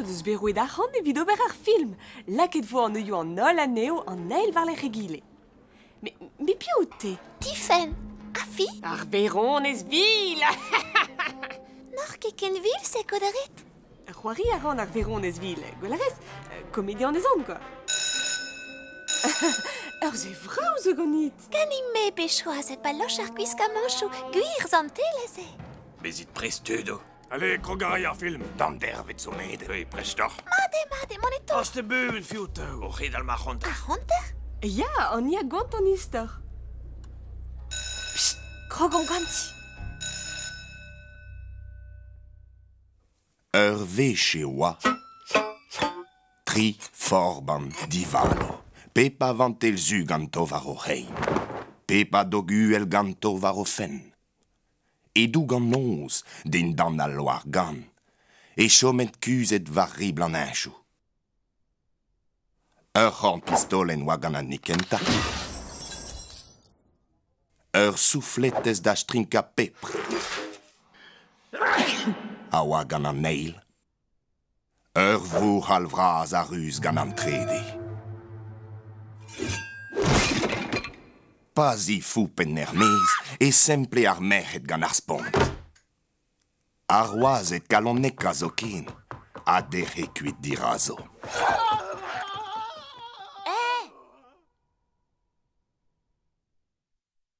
deus bet roet arc'hant evit ober ar film. Lakaet vo an neuioù an holl anezho an eil war lerc'h egile. Mais, mais piv out-te Tifenn Ha fi Ar Veronez Vil N'oc'h ket ken vil se kodarit C'hoari a ran ar Veronez Vil, gwell a rez Komedi anezan, quoi Ur zevrav zo ganit Ganin-me pe choazet pa loch ar gwiskamañchoù gwir zantelez eo Bezit prest tud Allez, krog a ray ar film. D'an dervet zo met. Hei, prestoc'h. Mat eo, mat eo, moneto. Ast e bun, fiou teu. O c'hedal ma c'honter. Ar c'honter? Ya, an ia gont an istor. Psst, krog omp ganti. Ur wech e oa tri forban divalo. Pep a vantel zu ganto war o c'hein. Pep a dog uhel ganto war o fenn. E-doug an noz, dindan al loar-gann, e chomet kuzhet war ribl an heñchoù. Ur c'horn-pistolenn oa gant an hini kentañ. Ur soufletez da strinkañ pepr a oa gant an eil. Ur vouc'hal vras a ruz gant an trede. Pa zifoup en er-maez e semple ar merc'hed gant ar spont. Ar wazed kaloneka zoken a dec'he kuit dirazo.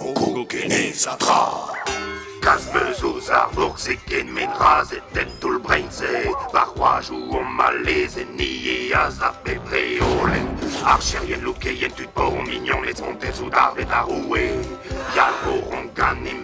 Hongo Guinness ha tra! Kalz 'meus ouzh ar bourse kement razhed en toull-brein-se Va c'hoajoù omp al lezenniezh a sav bep reolenn Archerien, loukeien, tud paour, mignoned, spontet soudarded ar roue Yal 'vo hon ganimp